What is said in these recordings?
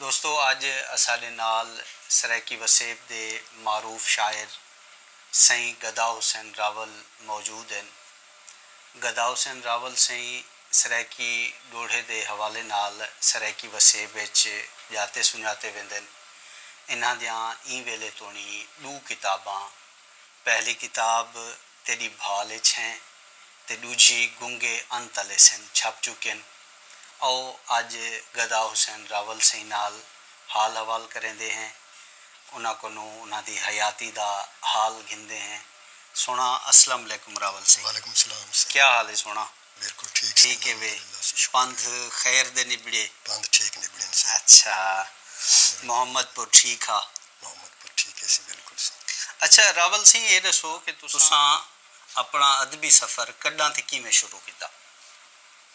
دوستو اج اساڈے نال سرائیکی وسیب دے معروف شاعر سئیں گدا حسین راول موجود ہن۔ گدا حسین راول سئیں سرائیکی ڈوہڑے دے حوالے نال سرائیکی وسیب اچ جاتے سنجاتے ویندن۔ انہاں دیاں ایں ویلے توڑیں ڈو کتاباں پہلی کتاب۔ تیݙی بھال اچ ہیں تے ݙوجھی گنگے ان تلے سن چھپ چکین او اج گدا حسین راول سئیں نال حال حوال کریندے ہیں انہاں کنوں انہاں دی حیاتی دا حال گھندے ہیں سوہݨا اسلم علیکم راول سئیں وعلیکم سلام سئیں کیا حال ہے سوہݨا۔ ٹھیک ہے وے پندھ خیر دے نبڑے۔ پندھ ٹھیک نبڑن سا۔ اچھا محمد پور ٹھیک ہا۔ محمد پور ٹھیک ہے سی بالکل سا۔ اچھا راول سئیں اے ڈسو کہ تساں اپنا ادبی سفر کڈاں تے کیویں شروع کیتا؟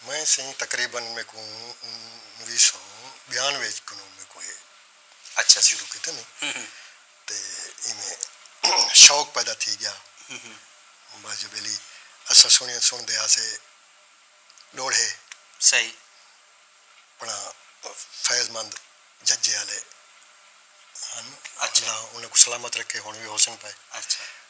میں سئیں تقریبا میکوں انویہہ سو بیانوے اچ کنوں میکوں اے اچھا شروع کیتا نی۔ تے ایویں شوق پیدا تھی گیا۔ بس جو ویلی اساں سنڑیاں سنڑدے ہاسے ڈوڑھے۔ صحیح۔ اپنا فیض مند ججے آلے ہن۔ اچھا۔ اللہ انہاں کوں سلامت رکھے ہنڑ وی ہوسن پئے۔ اچھا۔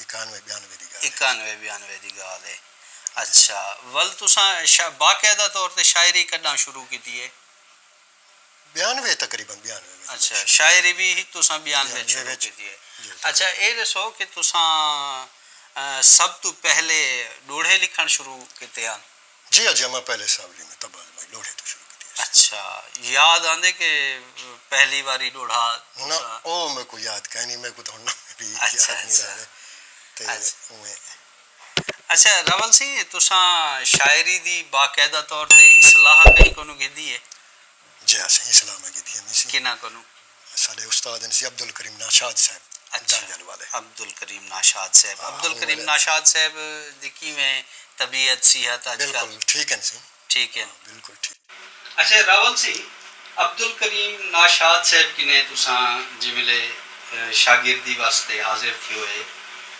اکانوے بیانوے دی ڳالھ اے۔ اکانوے بیانوے دی ڳالھ اے۔ اچھا ول تساں باقاعدہ طور تے شاعری کݙاں شروع کیتی اے؟ بیانوے تقریبا بیانوے وچ۔ اچھا شاعری وی تساں بیانوے وچ شروع کیتی اے۔ اچھا اے ݙسو کہ تساں سب توں پہلے ݙوہڑے لکھݨ شروع کیتے ہن؟ جی اجے اماں پہلے ساولی میں طبع آزمائی ڈوڑھے توں شروع کیتی ہسی۔ اچھا یاد آندے کہ پہلی واری ڈوڑھا نہ او میکوں یاد کائنی میکوں تاں ہن ناں وی یاد نی رہندے تے اوویں۔ اچھا راول سی تساں شاعری دی باقاعدہ طور تے اصلاح کہیں کونوں گھدی ہے؟ جی ہاں سئیں اصلاح میں گھدی ہنی سی۔ کنہاں کونوں؟ ساڈے استاد ہن سی عبدالکریم ناشاد صاحب دانگل والے۔ اچھا عبدالکریم ناشاد صاحب عبدالکریم ناشاد صاحب دی کیویں طبیعت صحت اج کل؟ بالکل ٹھیک ہن سی۔ ٹھیک ہن۔ بالکل ٹھیک۔ اچھا راول سی عبدالکریم ناشاد صاحب کنیں تساں جیں ویلے شاگردی واسطے حاضر تھیوئے۔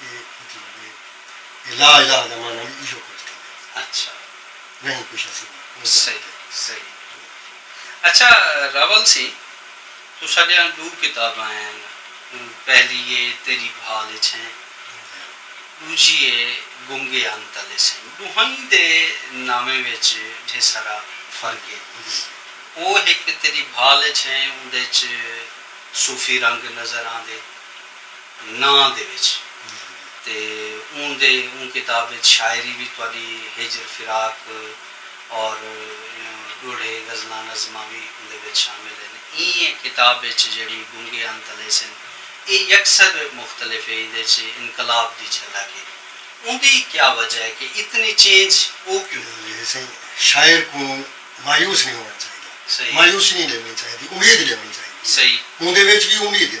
اے مطلب ہے کہ لا الہ دا معنی وی ایہو کجھ تھیندے ہیں۔ اچھا۔ نہیں کچھ اسی وی اوہ جانتے۔ صحیح صحیح۔ اچھا راول سی تساں ڈیاں ڈو کتاباں ہن پہلی ہے تیری بھال اچ ہیں ڈوجھی ہے گنگے ہن تلے سن ڈوہائیں دے ناویں وچ ڈھیر سارا فرق ہے او ہک تیری بھال اچ ہیں اوندے اچ صوفی رنگ نظر آندے۔ ناں دے وچ تے اوں دے اوں کتاب وچ شاعری وی تہاݙی ہجر فراق اور ݙوہڑے غزلاں نظماں وی اوندے وچ شامل ہن ایں کتاب وچ جیڑھی گنگے انت الیسن اے یکسر مختلف ہے ایندے وچ انقلاب دی جھلک ہے اوندی کیا وجہ ہے کہ اتنی چینج او کیوں؟ لیلی سئیں شاعر کوں مایوس نی ہووݨ چاہیدا صحیح مایوسی نی ݙیوݨی چاہیدی امید ݙیوݨی چاہیدی صحیح اوندے وچ وی امید ہے۔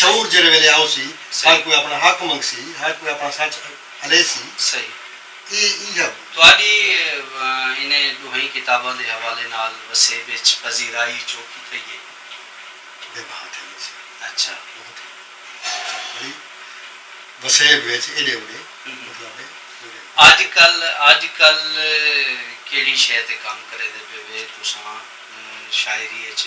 شعور جیڑھے ویلے آوسی ہر کوئی اپنا حق منگسی ہر کوئی اپنا سچ الیسی صحیح اے ای ہب۔ تہاݙی انہیں ݙوہیں کتاباں دے حوالے نال وسیب اچ پذیرائی چوکھی تھئی اے؟ بے بھا تھئی اے سر۔ اچھا۔ بہت ہی سر بڑی وسیب وچ ایݙے اوݙے مطلب اے۔ اڄ کل اڄ کل کیڑھی شے تے کم کریندے پئے وے تساں شاعری اچ؟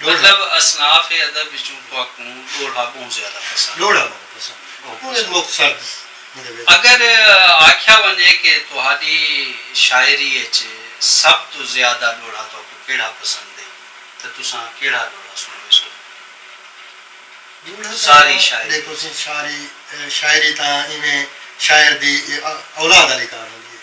مطلب اصناف ادب وچوں تہاکوں ڈوہڑا بہوں زیادہ پسند ہے۔ اگر آکھیا ونجے کہ تہاڈی شاعری اچ سب توں زیادہ ڈوہڑا تہاکوں کیہڑا پسند ہے تاں تساں کیہڑا ڈوہڑا سنڑویسو؟ ساری شاعری اچ۔ ساری شاعری تاں ایویں شاعر دی اولاد آلی کار ہوندی ہے۔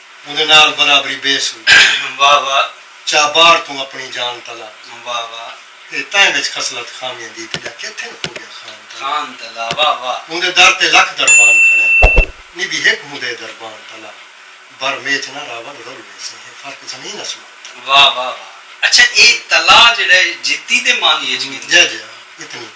اوندے نال برابری بیسوں۔ واہ واہ چا بار توں اپنی جان تلا۔ واہ واہ۔ اے تائیں وچ خصلت خامیاں دی تیڈا کیتھن ہو گیا خان تلا۔ خان تلا واہ واہ۔ اوندے در تے لکھ دربان کھڑن نی بھی ہک ہوندے دربان تلا۔ بر میچ نہ راول رل ویسیں ہے فرق زمین اسمان تلا۔ واہ واہ واہ اچھا اے تلا جیڑا ہے جتی دے معنی اچ ویندے۔ جے جے اتنی۔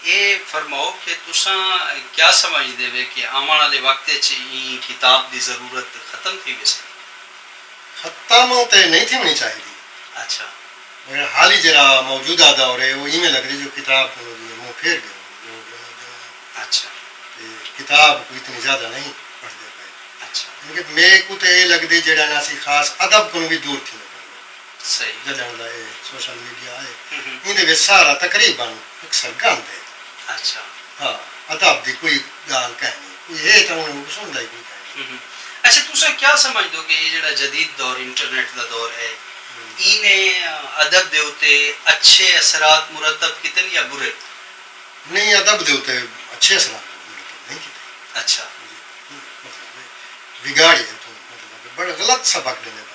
اے فرماؤ کہ تساں کیا سمجھدے وے کہ آوݨ آلے وقت اچ ایں کتاب دی ضرورت ختم تھی ویسی؟ ختم تے نئیں تھیوݨی چاہیدی۔ اچھا۔ مگر حالی جیرھا موجودہ دور اے او اینویں لگدے جو کتاب کولوں جیویں منہ پھیر ڳئے ہن لوک ݙینہاں ݙینہاں اچھا۔ تے کتاب کوں اتنی زیادہ نئیں پڑھدے پئے۔ اچھا۔ یعنی کہ میکوں تے اے لگدے جیڑھا نہ اسی خاص ادب کولوں وی دور تھیندے پئے ہن۔ جݙݨ دا اے سوشل میڈیا اے ایندے وچ سارا تقریبا اکثر گند اے ہا ادب دی کوئی ڳالھ کائنی کوئی ہے تاں انہاں کوں ݙسݨ دا ای کوئی کائنی۔ اچھا تساں کیا سمجھ دو کہ اے جیڑھا جدید دور انٹرنیٹ دا دور اے اینے ادب دے اتے اچھے اثرات مرتب کیتن یا برے؟ نئیں ادب دے اتے اچھے اثرات مرتب نئیں کیتے۔ اچھا۔ مطلب اے وگاڑیے اتوں مطلب اے بڑے غلط سبق ݙیندے پئے۔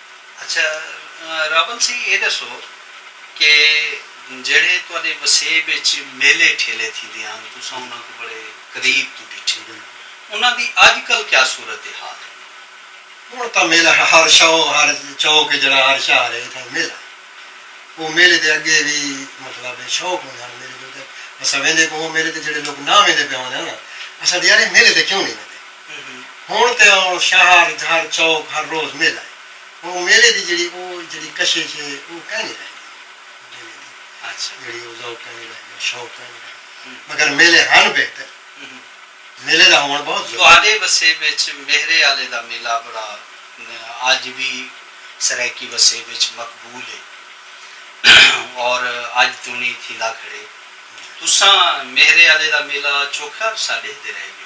اچھا راول سی اے ڈسو کہ جیڑھے تہاڈے وسیب اچ میلے ٹھیلے تھیندے ہن تساں انہاں کوں بڑے قریب توں ڈٹھے انہاں دی اج کل کیا صورت حال ہے؟ ہن تاں میلہ ہر شو ہر چوک جیڑھا ہر شہر ہے اتھاں میلہ ہے او میلے دے اگے وی مطلب شوق ہوندے ہن میلے دے اتے اساں ویندے کوئوں میلے تے جیڑھے لوک نہ ویندے پئے ہوندے ہن اساں آندے یار اے میلے تے کیوں نی ویندے۔ ہݨ تے آؤ شہر گھر چوک ہر روز میلہ ہے ہݨ او میلے دی جیڑھی او جیڑھی کشش ہے او کائنی رہ گئی میلے دی جیڑھی او ذوق کائنی رہ گیا شوق کائنی رہ گیا مگر میلے ہن بہتر میلے دا ہووݨ بہت ضروری ہے۔ تہاݙے وسیب اچ میہرے آلے دا میلہ بڑا اڄ وی سرائیکی وسیب اچ مقبول ہے اور اڄ توݨی تھیندا کھڑے تساں میہرے آلے دا میلہ چوکھا عرصہ ݙیہدے رہ ڳیو۔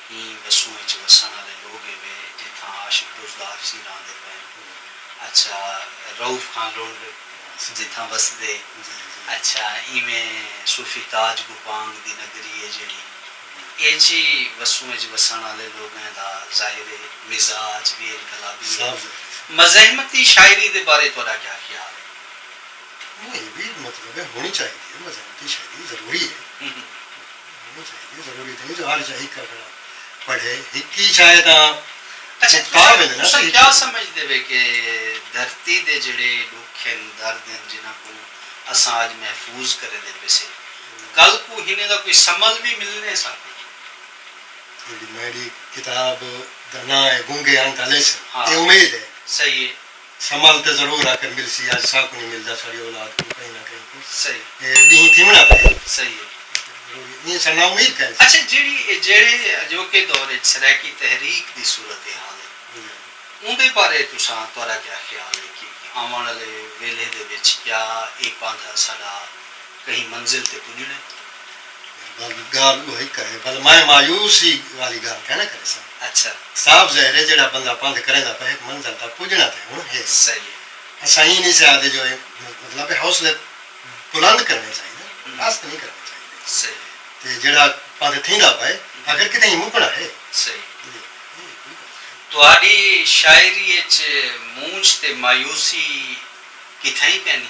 ایں وسوں اچ وسن آلے لوگ اے وے جتھاں عاشق روزگار سیں راہندے پئن۔ اچھا رؤف خان لنڈ جتھاں وسدے۔ اچھا ایویں صوفی تاج گوپانگ دی نگری اے جیڑھی اچ ای وسوں اچ وسن آلے لوگاں دا ظاہر اے مزاج وی انقلابی اے۔ مزاحمتی شاعری دے بارے تہاڈا کیا خیال اے؟ نئیں وی مطلب اے ہونی چاہیدی اے مزاحمتی شاعری ضروری اے۔ تساں کیا سمجھدے وے کہ دھرتی دے جیڑھے ڈکھ ہن، درد ہن جنہاں کوں اساں اج محفوظ کریندے پیسے کل کوں ہنیں دا کوئی ثمل وی ملنے سا کوئی؟ میڈی کتاب دا ناں ہے گونگے ہن تاں لیسن۔ اے امید ہے۔ صحیح ہے۔ سمل تے ضرور آکر ملسی آج ساکوں نی ملدا ساڈی اولاد کوں کہیں نہ کہیں کوں اے ڈینہہ تھیونڑاں پئے ضروری اے ساڈا امید کائنی سی۔ اچھا جیڑھی اے جیڑھے اجوکے دور اچ سرائیکی تحریک دی صورت حال اے اوندے بارے تساں تہاڈا کیا خیال اے کہ آونڑ آلے ویلھے دے وچ کیا اے پاندھا ساڈا کہیں منزل تے پجنڑے؟ بل گالھ اوہی کرے بل میں مایوسی والی گالھ کائناں کریساں اچھا۔ صاف ظاہر ہے جیڑھا بندہ پندھ کریندا پئے ہک منزل تاں پجنڑاں تیں ہنڑ ہے۔ صحیح ہے۔ اساں ایں نی سے آہدے جو مطلب ہے حوصلے بلند کرنڑے چاہیدن پست نی کرنڑے چاہیدے۔ صحیح ہے۔ تے جیڑھا پندھ تھیندا پئے آخر کتھے ایں مکنڑاں ہے۔ صحیح ہے۔ ایہ کوئی گالھ کائنی۔ تہاڈی شاعری اچ مونجھ تے مایوسی کتھائیں کائنی۔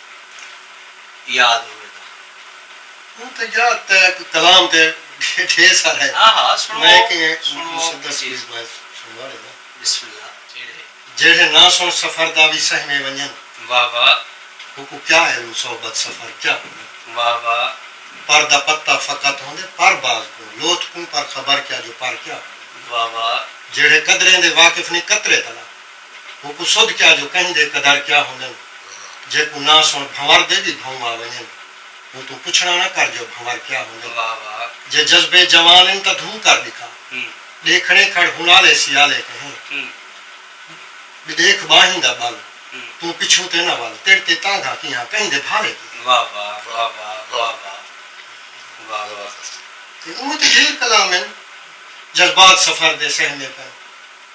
یاد ہووے تاں اوں تے جا تے کلام تے ڈھیر سارا ہے میں کہیں مسدس بیز میں سنوا ڈیواں جیڑھے نہ سن سفر دا وی سہمے ونجن اوکوں کیا علم صحبت سفر کیا ہووے پر دا پتہ فقط ہوندے پر باز کوں لوتھ کوں پر خبر کیا جو پر کیا ہووے جیڑھے قدریں دے واقف نی قطرے تلا۔ اوکوں سدھ کیا جو کہیں دے قدر کیا ہوندن جیکوں ناں سݨ بھنور دے وی بھئوں آ ونڄن اوتوں پچھݨا نہ کر جو بھنور کیا ہوندن جے جذبے جوان ہن تاں دھو کر ݙکھا ݙیکھݨے کھڑ ہن آلے سیالے کہیں ݙے ݙیکھ ٻانہیں دا ٻل توں پچھوں تے نہ ول تیݙ تے تانگھا کیہاں کہیں دے بھالے کہیں۔ تے اوہ تے ہیل کلام ہن جذبات سفر دے سہمے پئن۔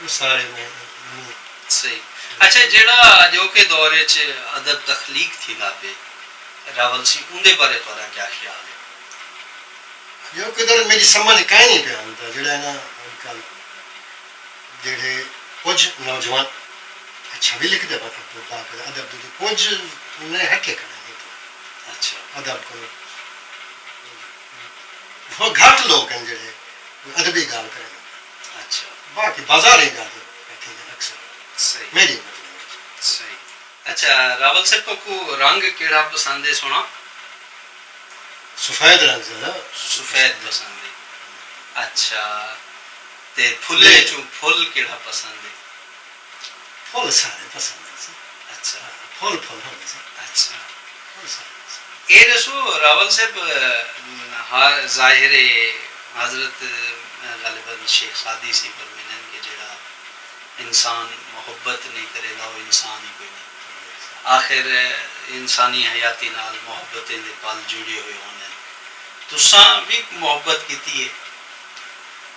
او سارے میں مور۔ صحیح۔ اچھا جیڑھا اجوکے دور اچ ادب تخلیق تھیندا پئے راول سی اوندے بارے تہاڈا کیا خیال ہے؟ اجوکے دور میڈی سمجھ کائنی پیا آندا جیڑھا انہاں اج کل جیڑھے کجھ نوجوان اچھا وی لکھدے پن عبدالباقر ادب دے تے کجھ انہیں ہٹے کھڑے نے تے اچھا۔ ادب کولوں بہت گھٹ لوگ ہن جیڑھے کوئی ادبی گالھ کرن۔ اچھا باقی بازار ہی جاندے بیٹھے دے اکثر صحیح میری عمر دے لوگ صحیح اچھا راول صاحب توکو رنگ کیڑا پسند ہے سونا سفید رنگ زیادہ سفید پسند ہے اچھا تے پھلے اچوں پھل کیڑا پسند ہے۔ پھل سارے پسند ہنسن۔ اچھا پھل پھل ہنسن۔ اچھا پھل سارے پسند ہنسن۔ اے ݙسو راول صاحب ہا ظاہر ہے حضرت غالبا شیخ سعدی سئیں فرمیندن کہ جیڑھا انسان محبت نئیں کریندا او انسان ای کوئی نئیں۔ آخر انسانی حیاتی نال محبتیں دے پل جڑیے ہوئے ہوندن۔ تساں وی محبت کیتی ہے۔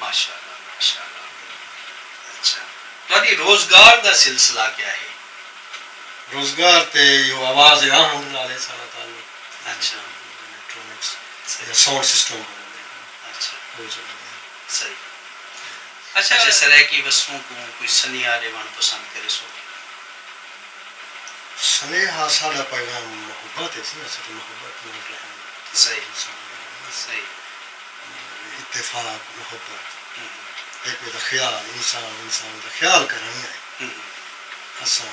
ماشاءاللہ ماشاءاللہ اچھا تہاڈی روزگار دا سلسلہ کیا ہے؟ روزگار تے ایہو آواز ہے آہنگ نال ہے ساڈا تعلق اچھا الیکٹرانکس یا ساؤنڈ سسٹم بنن دے اچھا او چلن دے صحیح اچھا جے سرائیکی وسوں کوں کوئی سنیہا ڈیوان پسند کریسو؟ سنیہا ساڈا پیغام محبت ہے سی اساں تے محبت نال رہن صحیح صحیح۔ اتفاق، محبت، ہک ٻئے دا خیال، انسان انسان دا خیال کرݨ ہے۔ اساں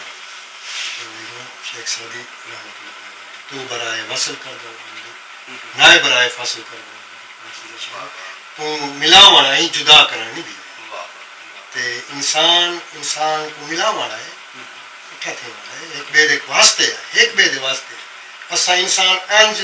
امیروں شیخ سعدی رحمۃ اللہ علیہ دا تو برائے وصل کر دا ہوں دی نائے برائے فصل کر دا ہوں دی پاسی دا شعر کوں ملا وݨ آئیں جدا کرݨ نی دیوے تے انسان انسان کوں ملا وݨ آئے اٹھا تھے وݨ آئے ہک ٻئے دے واسطے آئے ہک ٻئے دے واسطے آئے اساں انسان انج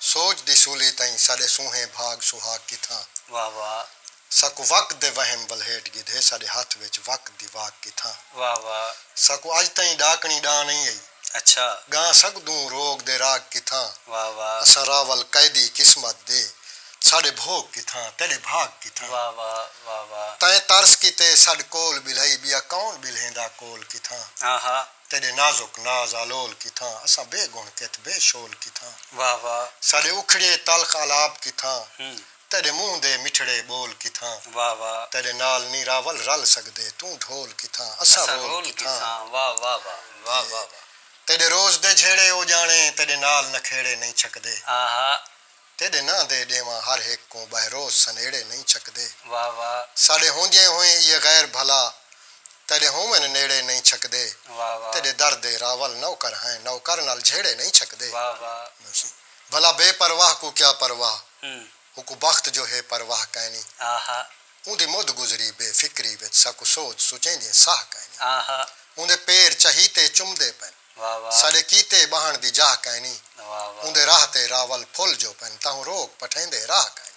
سوچ دی سولی تئیں ساڈے سونہے بھاگ سہاگ کتھاں۔ واہ واہ۔ ساکوں وقت دے وہم ولہیٹ گھدھے ساڈے ہتھ وچ وقت دی واک کتھاں۔ واہ واہ۔ ساکوں اج تئیں ڈاکنی ڈاں نئیں ائی۔ اچھا۔ گاں سگدوں روگ دے راگ کتھاں۔ واہ واہ۔ اساں راول قیدی قسمت دے ساڈے بھوگ کتھاں تیڈے بھاگ کتھاں۔ واہ واہ واہ واہ۔ تئیں ترس کیتے سڈ کول ٻلہئی ٻیا کون ٻلہیندا کول کتھاں۔ آہا۔ تیݙے نازک ناز آلول کتھاں۔ اساں بے گݨ کت بے شول کتھاں۔ واہ واہ۔ ساݙے اکھڑیے تلخ آلاپ کتھاں۔ تیݙے منہ دے مٹھڑے ٻول کتھاں۔ واہ واہ۔ تیݙے نال نی راول رل سڳدے۔ توں ڈھول کتھاں اساں رول کتھاں۔ واہ واہ واہ واہ واہ واہ۔ تیݙے روز دے جھیڑے او ڄاݨے۔ تیݙے نال نکھیڑے نئیں چھکدے۔ آہا۔ تیݙے ناں دے ݙیواں ہر ہک کوں ٻہہ روز سنیڑے نئیں چھکدے۔ واہ واہ۔ ساݙے ہوندیئیں ہوئیں ایہے غیر بھلا تیݙے ہوون نیڑے نئیں چھکدے۔ واہ واہ۔ تیݙے در دے راول نوکر ہیں نوکر نال جھیڑے نئیں چھکدے۔ واہ واہ۔ بھلا بے پرواہ کوں کیا پرواہ اوکوں بخت جو ہے پرواہ کائنی۔ آہا۔ اوندی مدھ گزری بے فکری وچ ساکوں سوچ سچیندیئیں ساہ کائنی۔ آہا۔ اوندے پیر چہیتے چمدے پئن۔ ساݙے کیتے ٻہݨ دی جاہ کائنی۔ اوندے راہ تے راول پھل جو پن تاہوں روک پٹھیندے راہ کائنی۔